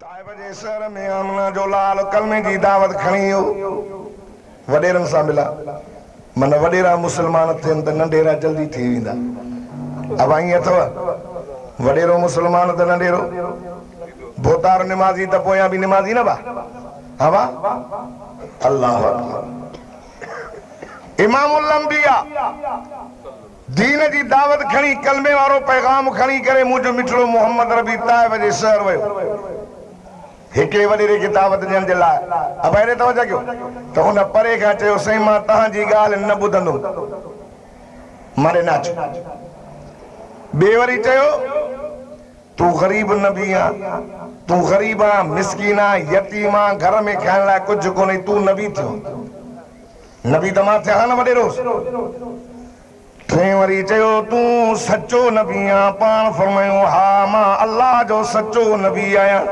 طائف جي شهر ۾ آمنه جو لال ڪلمي جي دعوت کڻي ايو وڏيرن سان ملا من وڏيرا مسلمان ٿين ته ننڍيرا جلدي ٿي ويندا ابا ائين اٿو وڏيرو مسلمان ته ننڍيرو بوتار نمازي ته پويان به نمازي نه با ابا الله اڪبر امام الانبياء دين جي دعوت کڻي ڪلمي وارو پيغام کڻي ڪري منهنجو مٺڙو محمد ربيع طائف جي شهر ويو. هڪڙي وڏيري کي دعوت ڏيڻ جي لاء ابائري توجه ڪيو ته ان پري کان چيو سائين مان توهان جي ڳالهه نه ٻڌندم ماري ناچ. ٻئي وري چيو تون غريب نبي آن تون غريب آن مسڪين آن يتيم آن گهر ۾ کائڻ لاء ڪجهه ڪونهي تون نبي ٿيو آن. نه به ته مان ٿيان ها نه وڏيروس. ٽئين وري چيو، تون سچو نبي آن؟ پاڻ فرمايو، ها مان الله جو سچو نبي آهيان.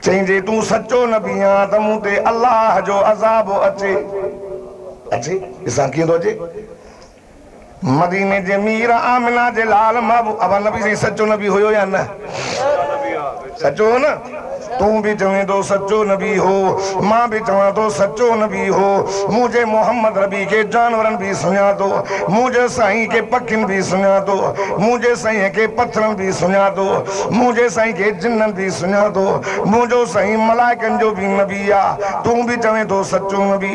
چئي، جي تون سچو نبي آن ته مون تي الله جو عذاب اچي. اچي؟ ڏسان ڪيئن ٿو اچي. مديني جي مير آمنه جي لال محبوب ابا نبي سائين سچو نبي هيو يا نه سچو هو نه تون به چوين ٿو سچو نبي هو مان به چوان ٿو سچو نبي هو مون جي محمد ربي کي جانورن به سڃا ٿو مون جي سائين کي پکين به سڃا ٿو مون جي سائين کي پٿرن به سڃا ٿو مون جي سائين کي جنن به سڃا ٿو منهنجو سائين ملائڪن جو به نبي آ تون به چوين ٿو سچو نبي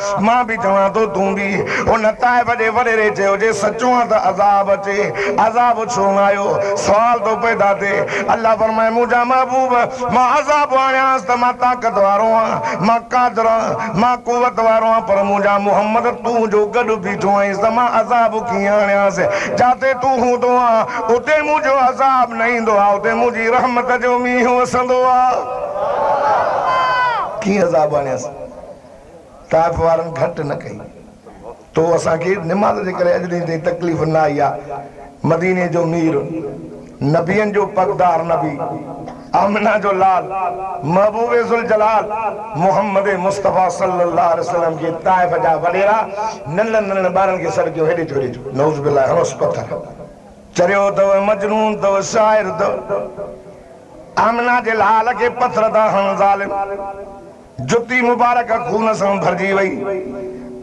مان به چوان ٿو تون به ان طائف جي وريري چيو جي سچو آن ته عذاب اچي عذاب ڇو نه آيو سوال ٿو پيدا ٿئي الله فرمائي منهنجا محبوب مان عذاب آڻيانس ته مان طاقت وارو آهيان مان قادر آهيان مان قوت وارو آهيان پر منهنجا محمد تون جو گڏ بيٺو آهين ته مان عذاب ڪيئن آڻيانس جاتي تون هوندو آهين اتي منهنجو عذاب نه ايندو آهي اتي منهنجي رحمت جو مينهن وسندو آهي ڪيئن عذاب آڻيانس. طائف وارن گهٽ نه ڪئي. تو اسان کي نماز جي ڪري اڄ ڏينهن تائين تڪليف نه آئي آهي. مديني جو مير، نبين جو پڳدار نبي، آمنه جو لال، محبوب ذوالجلال محمد مصطفيٰ صلّي الله عليه وسلّم جي طائف جا وڏيرا ننڍڙن ننڍڙن ٻارن کي سڏ ڪيو هيڏي جو هيڏي جو، نعوذ بالله، هڻوس پٿر. چريو اٿو، مجنون اٿو، شاعر اٿو، آمنه جي لال کي پٿر ٿا هڻن ظالم. جتي مبارڪ خون سان ڀرجي وئي.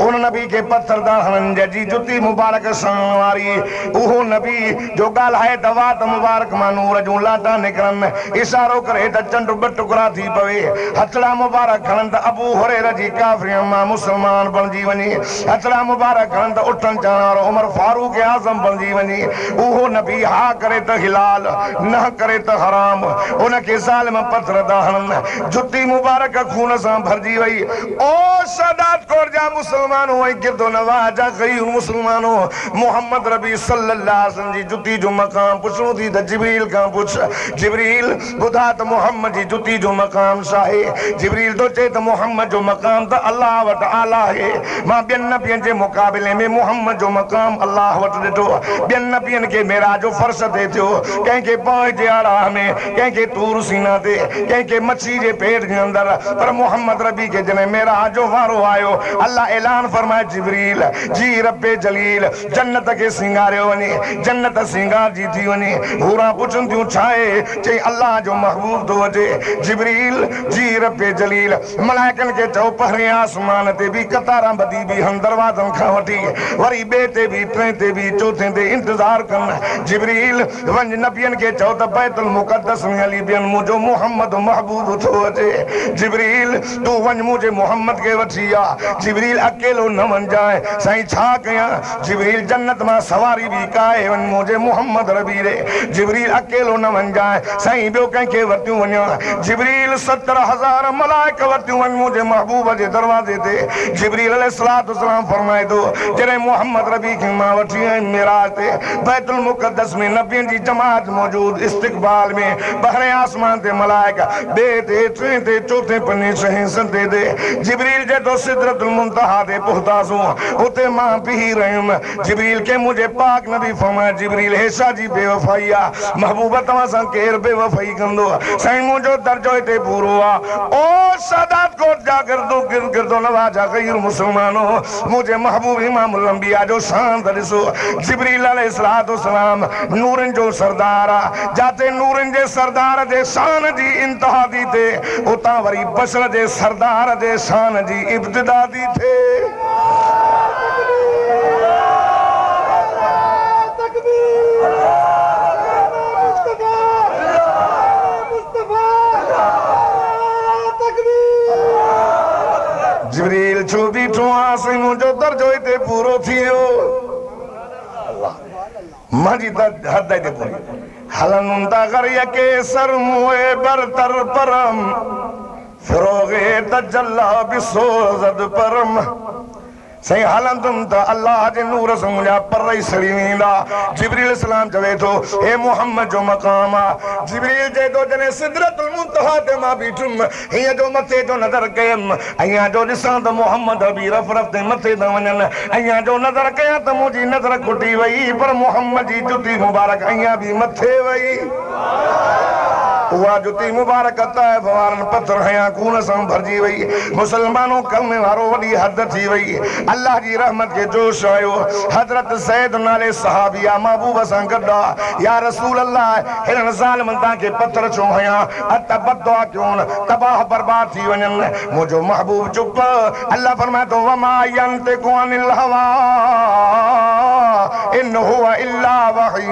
ان نبي کي پٿر داڙهڻن جي جتي مبارڪ سان ماري. اهو نبي جو ڳالهائي ته وات مبارڪ مان نور جون لاٽا نڪرن، اشارو ڪري ته چنڊ ٻه ٽڪرا ٿي پوي، هٿڙا مبارڪ کڻن ته ابو هريره جي ڪافرين مان مسلمان بڻجي وڃي، هٿڙا مبارڪ کڻن ته اٺن چاڻ وارو عمر فاروق اعظم بڻجي وڃي. اهو نبي ها ڪري ته حلال، نه ڪري ته حرام. ان کي ظالم پٿر داڙهڻن جتي مبارڪ خون سان ڀرجي وئي. او شهداد ڪوٽ جا مسلمانو ۽ گردونواح جا غيور مسلمانو! محمد ربيع صلّي اللّٰه عليه وسلّم جي جتي جو مقام پڇڻو ٿي ته جبريل کان پڇ، جبريل! ٻڌاء ته محمّد جي جتي جو مقام ڇا آهي؟ جبريل ٿو چئي ته محمّد جو مقام ته الله وٽ اعليٰ آهي. مان ٻين نبين جي مقابلي ۾ محمّد جو مقام الله وٽ ڏٺو. ٻين نبين کي معراج جو فرش طئي ٿيو، ڪنهن کي پاڻ جي آراه ۾، ڪنهن کي طور سينا تي، ڪنهن کي مڇي جي پيٽ جي اندر، پر محمد عربي کي جڏهن معراج جو وارو آيو، الله اعلان فرمائي جبريل جي رب جليل جنت کي سينگاريو وڃي، جنت سينگارجي ٿي وڃي، حوران پڇن ٿيون ڇا اهي؟ چئي الله جو محبوب ٿو اچي، جبريل جي رب جليل ملائڪن کي چئو پهرين آسمان تي به قطارا ٻڌي بيهن دروازن کان وٺي وري ٻئي تي به ٽئين تي به چوٿين تي انتظار ڪن، جبريل. وڃ نبين کي چئو ته بيت المقدس ۾ علي بين منهنجو محمد محبوب ٿو اچي. جبريل تون وڃ منهنجي محمد کي وٺي آ. جبريل اڪيلو نه وڃجانء سائين ڇا ڪيان. جبريل جنت مان سواري به ڪاهي وڃ منهنجي محمد ربيري. جبريل اڪيلو نه وڃجانء سائين ٻيو ڪنهن کي ورتيون وڃان. جبريل ستر هزار ملائڪ ورتيون وڃ منهنجي محبوب جي دروازي تي. جبريل عليه السلام فرمائي ٿو جڏهن محمد ربي کي مان وٺي آيم معراج تي. بيت المقدس ۾ نبين جي جماعت موجود استقبال ۾ بحر آسمان تي ملائڪ ٻئي تي ٽئين تي چوٿين پني ڇهين ستين تي جبريل جي تو سدرت المنتهيٰ تي پهتاسون اتي مان بيهي رهيم جبريل کي منهنجي پاڪ نبي فرمايو جبريل هي شاهه جي بيوفائي آ محبوب توهان سان ڪير بيوفائي ڪندو سائين منهنجو درجو هتي پورو آ او سادات ڪوٽ جا گردو گردو نواز جا غير مسلمانو منهنجي محبوب امام الانبياء جو شان ته ڏسو، جبريل عليه السلام نورن جو سردار آ، جاتي نورن جي سردار جي شان جي انتها ٿي ٿئي، اتان وري بشر جي سردار جي شان جي ابتدا ٿي ٿئي. جبريل ڇو بيٺو آهي سائين منهنجو درجو هتي پورو ٿي ويو الله منهنجي ته حد هتي پوري هلن هوندا غر يڪي سر موئي برتر پرم فروغ تجلي به سوزد پرم سائين هلندم ته الله جي نور سان منهنجا پر ئي سڙي ويندا جبريل السلام چوي ٿو هي محمد جو مقام آهي جبريل چئي ٿو جڏهن سدرة المنتهيٰ تي مان بيٺم هينئن جو مٿي جو نظر ڪيم، هينئن جو ڏسان ته محمد ابي رف رف تي مٿي ٿا وڃن، هينئن جو نظر ڪيان ته منهنجي نظر کٽي وئي، پر محمد جي جتي مبارڪ هينئن به مٿي وئي. اها جتي مبارڪ طائف وارن پٿر هنيا خون سان ڀرجي وئي. مسلمانو! ڪم وارو وڏي حد ٿي وئي. الله جي رحمت کي جوش آيو. حضرت زيد نالي صحابي آء محبوب سان گڏ آء، يا رسول الله! هنن ظالمن تان کي پٿر ڇو هنيا؟ ته بددعا ڪيون تباهه برباد ٿي وڃن. منهنجو محبوب چپ. الله فرمائي ٿو وما ينطق عن الهويٰ ان هو الا وحي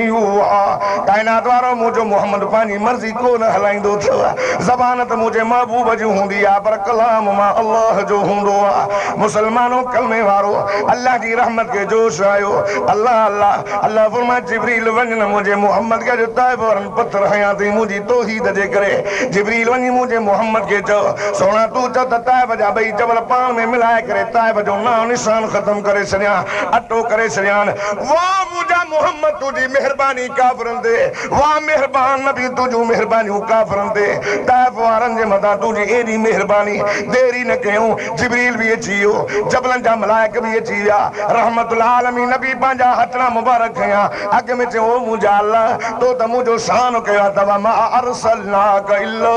يوحيٰ ڪائنات وارو منهنجو محمد پنهنجي مرضي ڪو نه هلائيندو اٿئو. زبان ته منهنجي محبوب جي هوندي آهي پر ڪلام مان الله جو هوندو آهي. مسلمانو ڪلمي وارو الله جي رحمت کي جوش آيو. الله الله الله فرمائي جبريل وڃ نه منهنجي محمد کي اڄ طائف وارن پٿر هنيان تئين منهنجي توحيد جي ڪري. جبريل وڃي منهنجي محمد کي چئو، سهڻا تون چئه ته طائف جا ٻئي جبل پاڻ ۾ ملائي ڪري طائف جو نانء نشان ختم ڪري ڇڏيان، اٽو ڪري ڇڏيان. واهه منهنجا محمد تنهنجي مهرباني ڪافرن تي، واهه مهربان نبي تنهنجون مهربانيون ڪافرن تي، طائف وارن جي مٿان تنهنجي ايڏي مهرباني، دير ئي نه ڪيئون، جبريل به اچي ويو، جبلن جا ملائڪ به اچي ويا، رحمت العالمين نبي پنهنجا هٿڙا مبارڪ کنيا. اڳ ۾ چيو او منهنجا الله! تو ته منهنجو سانحو ڪيو آهي ته وما ارسلناک الا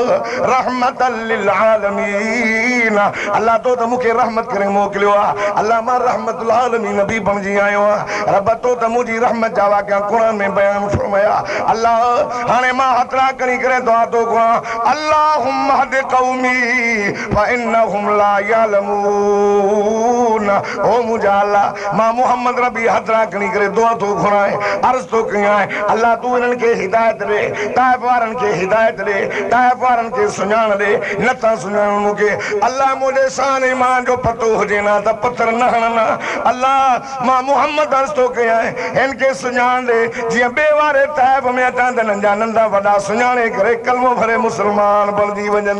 رحمة للعالمين الله تو ته مون کي رحمت ڪري موڪليو آهي الله مان رحمة العالمين به بڻجي آيو آهيان رب تو ته منهنجي رحمت جا واقعا قرآن ۾ بيان فرمايا الله هاڻي مان هٿڙا کڻي ڪري دعا ٿو گهران اللهم اهد قومي فانهم لا يعلمون او منهنجا الله! مان محمد ربي هٿران کڻي ڪري دعا ٿو گهران، عرض ٿو ڪيان، الله تون انهن کي هدايت ڏي، طائف وارن کي هدايت ڏي، طائف وارن کي سڃاڻ ڏي، نه ٿا سڃاڻن مون کي، الله منهنجي سان ايمان جو پتو هجين ها ته پٿر نه هڻن ها، الله! مان محمد عرض ٿو ڪيان، هن کي سڃاڻ ڏي، جيئن ٻئي واري طائف ۾ اچان ته هنن جا ننڍا وڏا سڃاڻي ڪري ڪلمو ڀري مسلمان بڻجي وڃن.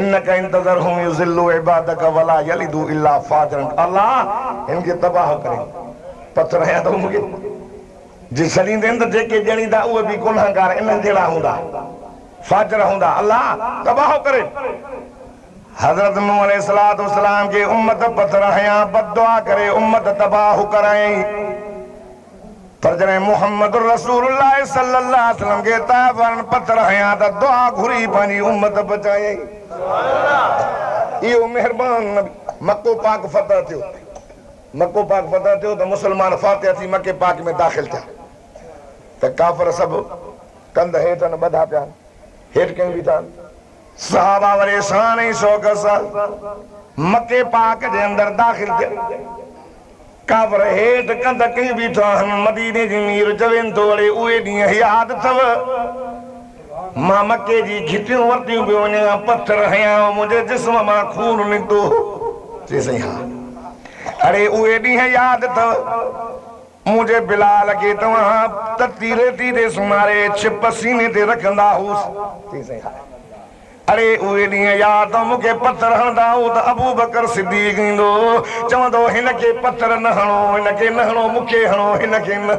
انک ان تذرهم يضلو عبادک ولا يلدو الا فاجرا الله هن کي تباهه ڪرين پٿر هنيا اٿئون مون کي جي ڇڏيندين ته جيڪي ڄڻيندا اهي به گنهگار انهن جهڙا هوندا فاجر هوندا الله تباهه ڪرين حضرت نوح عليه الصلاة والسلام جي امت پٿر هنيا بددعا ڪري امت تباهه ڪرائين. پر جڏهن محمد رسول الله صلي الله عليه وسلم کي طائف وارن پٿر هنيا ته دعا گهري پنهنجي امت بچايائين. اهو مهربان نبي. مڪو پاڪ فتح ٿيو. مڪو پاڪ فتح ٿيو ته مسلمان فاتح ٿي مڪي پاڪ ۾ داخل ٿيا ته ڪافر سڀ ڪنڌ هيٺ آهن ٻڌا پيا آهن هيٺ ڪيون بيٺا آهن. صحابه وري شان ۽ شوق سان مڪي پاڪ جي اندر داخل ٿيا. ڪافر هيٺ ڪنڌ ڪئي بيٺا آهن. مديني جي مير چوين ٿو اڙي اهي ڏينهن ياد اٿئو؟ مان مڪي جي گهٽيون ورتيون پيو وڃان، پٿر هنيا هئا، منهنجي جسم مان خون نڪتو هو. چيس سائين ها. اڙي اهي ڏينهن ياد اٿئو؟ منهنجي بلال کي توهان تتي ريتي تي سمهاري ڇپ سيني تي رکندا هوس. چئي سائين هاء. اڙي اهي ڏينهن ياد اٿم مون کي پٿر هڻندا هئو ته ابوبڪر صديق ايندو هو چوندو هو هن کي پٿر نه هڻو هن کي نه هڻو مون کي هڻو هن کي نه.